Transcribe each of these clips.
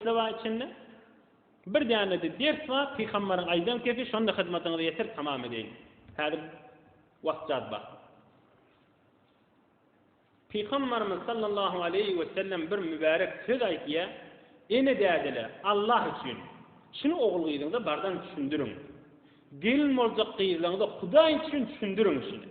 Sabah içinde bir dänede ders bar, Pygambaryň aýdan kepi, şonda hyzmatyňyzy ýetir, tamam edeýin. Häzir wagt jad bar. Pygambarymyz sallallahu aleýhi we sellem bir mübärek söz aýtýar, Ene dädeler, Allah üçin, şuny ogul gyzyňyza bardan düşündiriň. Gelin boljak gyzlaňyza Hudaý üçin düşündiriň şuny.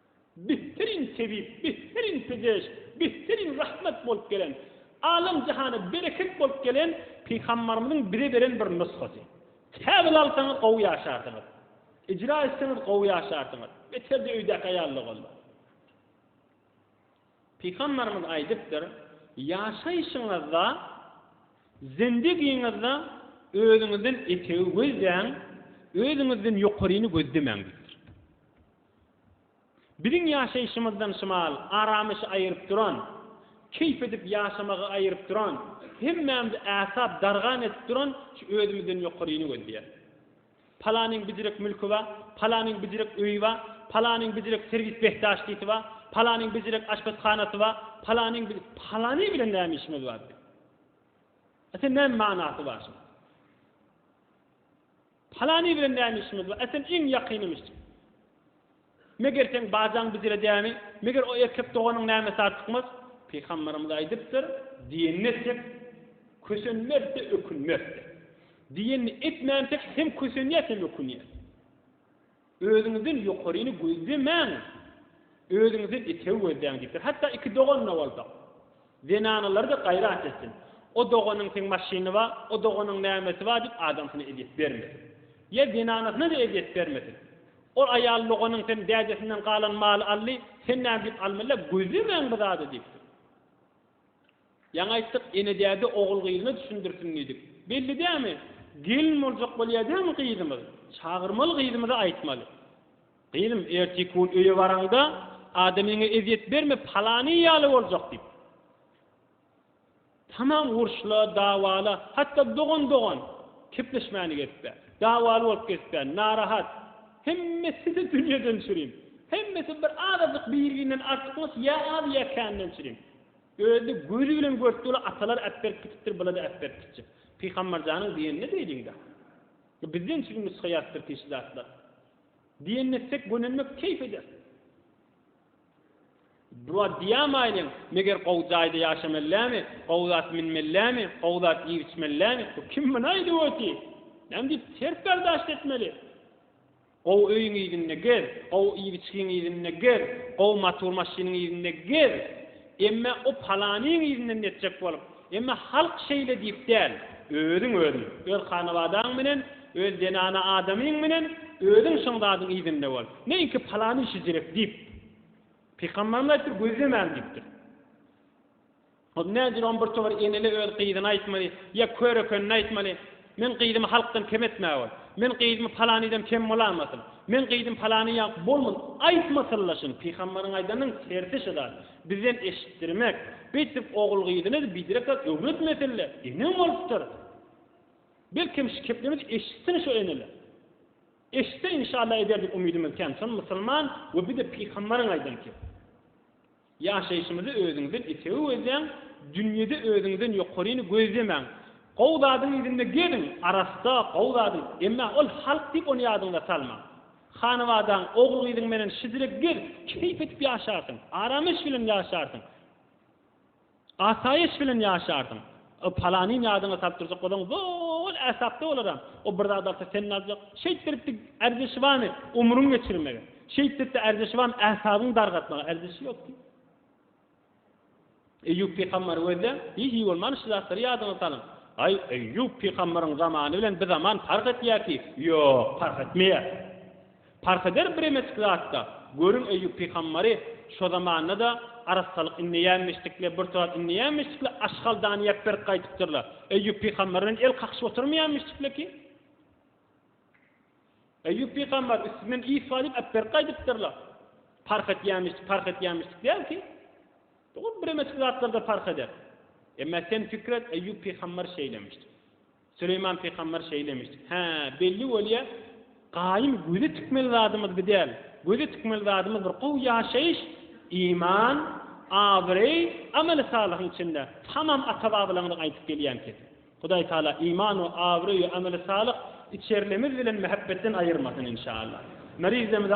Bihteriň tebip, bihteriň pejeş, bihteriň rahmet bolup gelen, alem jahana bereket bolup gelen Pygambarymyzyň bize beren bir nusgasy. Käbir alsaňyz gowy ýaşarsyňyz. Ijra etseňiz gowy ýaşarsyňyz. Beterde öýdäki aýalda bolma. Pygambarymyz aýdypdyr, Ýaşaýşyňyzda, zendegiňizde özüňizden etegi gözläň, özüňizden ýokaryny gözlemäň diýipdir. Biziň ýaşaýşymyzdan şymal aramyşy aýyryp duran, keýp edip ýaşamagy aýyryp duran, hemmämizi äsap dargan edip duran şu özümizden ýokaryny gözleýär. Palanyň bijirek mülki bar, palanyň bijirek öýi bar, palanyň bijirek serwis behdaşdisi bar, palanyň bijirek aşpezhanasy bar, palanyň bijirek, palany bilen näme işimiz bar biziň? Ata näme manasy bar şunuň? Palany bilen näme işimiz bar? Äseň iň ýakynymyş. Meger seň bajaň bijiredýärmi? Meger o erkek doganyň nämesi artykmaz? Pygamberimiz aýdypdyr, Diýenini etsek, kösenmez-de, ökünmez-de. Diýenini etmänsek, hem kösenýäs, hem ökünýäs. Özüňizden ýokaryny gözlemäň, özüňizden etewi gözläň diýipdir. Hatda iki dogan-da bolsa, zenanalary-da gaýrat etsin. O doganyň seň maşyny bar, o doganyň nämesi bar diýip adamsyna ezýet bermesin. Ýa zenanasyna-da ezýet bermesin. Ol aýal doganyň sen dädesinden galan maly aldy, sen näme diýip almaly-a, gözlemäň bu zady diýipdir. Ýaňy aýtdyk, ene-däde ogul-gyzyna düşündirsin diýdik. Belli dämi, gelin boljak bolýar dämi gyzymyz? Çagyrmaly gyzymyza aýtmaly. Gyzym, ertiki gün öýe baraňda, adamyňa ezýet berme, palany ýaly boljak diýip. Tamam urşla, dawala, hatda dogan-dogan kepleşmäni gezipdi. Dawaly bolup gezipdi, narahat. Hemmesi-de dünýeden çürim. Hemmesi bir azajyk bir-birinden artykmaç ýa az ýa kändan çürim. Özi gözi bilen görüpdi ola atalar äp berip gitipdir bulada äp berip gitjek Pygambarjanyň diýenine beýdiňda bizden çykyň nusga ýazypdyr kişi zatlar diýenine etsek gönenmek keýp eder. Dua diýämaýlyň meger gowy jaýda ýaşamellämi gowy zat minmellämi gowy zat iýip içmellämi bu kim muny aýdyp oty näme diýip ters berdaşt etmeli. Gowy öýüň yzynda gez, gowy iýip-içgiň yzynda gez, gowy matur maşynyň yzynda gez, emme o palanyň yzyndan netjek bolup, emme halk şeýle diýip däl, özüň özüň, öz hanabadaň bilen, öz zenana adamyň bilen özüň şoň zadyň yzynda bol. Neýinki palany işi zirek diýip. Pygamberimiz aýdypdyr, gözlemäň diýipdir. Ol nädil on bir towar eneli öz gyzyna aýtmaly, ýa kör ekenini aýtmaly, Men gyzymy halkdan kem etmäge bol. Men gyzymy palanydan kem bolanmasyn. Men gyzym palany ýa bolmaz aýtmasynla şun pygamberiň aýdanyň tersi şu zat. Bizden eşitdirmek. Beýtip ogul gyzyny biderek zat öwretmesinle. Enem bolupdyr. Belkem şu keplerimizi eşitsin şu eneler. Eşitse inşallah ederdik umydymyz kän. Şony musulman we bir de pygamberiň aýdan kep. Ýaşaýşymyzy özüňizden etewi gözläň, dünýede özüňizden ýokaryny gözlemäň. Gowy zadyň yzynda geziň, arassa, gowy zadyň, emma ol halk diýip ony ýadyňyza salmaň. Hanabadaň, ogul-gyzyň menen şidrek gez, keýp edip ýaşarsyň, aram-eş bilen ýaşarsyň. Asaýyş bilen ýaşarsyň. O palanyny ýadyňa salyp durjak bolaň, zol äsapda bolar-a. O bir zat alsa, sen-de aljak. Şeýt beripdi Ärdeşibany umruň geçirmegi. Şeýt beripdi Ärdeşibany äsabyňy dargatmagy. Ärdeşi ýok diý. Eýýup pygambar gözle, hiý-hiý bolman şu zatlary ýadyňa salyň. Aý, Eýýup pygambaryň zamany bilen bizaman parh etýär ki? Ýok, parh etmeýär. Parh eder biremeçik zatda. Görüň Eýýup pygamberi şo zamanda-da arassalyk indeýänmişdikle, bir turat indeýänmişdikle Aşhaldany ýap berk gaýdypdyrlar. Eýýup pygamber bilen el kakyşyp oturmaýanmişdikle ki. Eýýup pygamber üstünden is galyp ap berk gaýdypdyrlar. Parh etýänmişdik, parh etýänmişdik däl ki. Dogry biremeçik zatlarda parh eder. Emma sen pikir et Eýýup pygamber şeýlemişdi. Süleýman pygamber şeýlemiş. Hä, belli bolýa, gaýym göze tikmeli zadymyz bi däl. Göze tikmeli zadymyz bir gowy ýaşaýyş, iman, abraý, ameli salyhyň içinde. Tamam ata-babalaňyzyň aýdyp gelýän keti. Hudaý Taala iman we abraý we ameli salyh içerlemiz bilen mähepbetden aýyrmasyn inşallah. Merizdemize.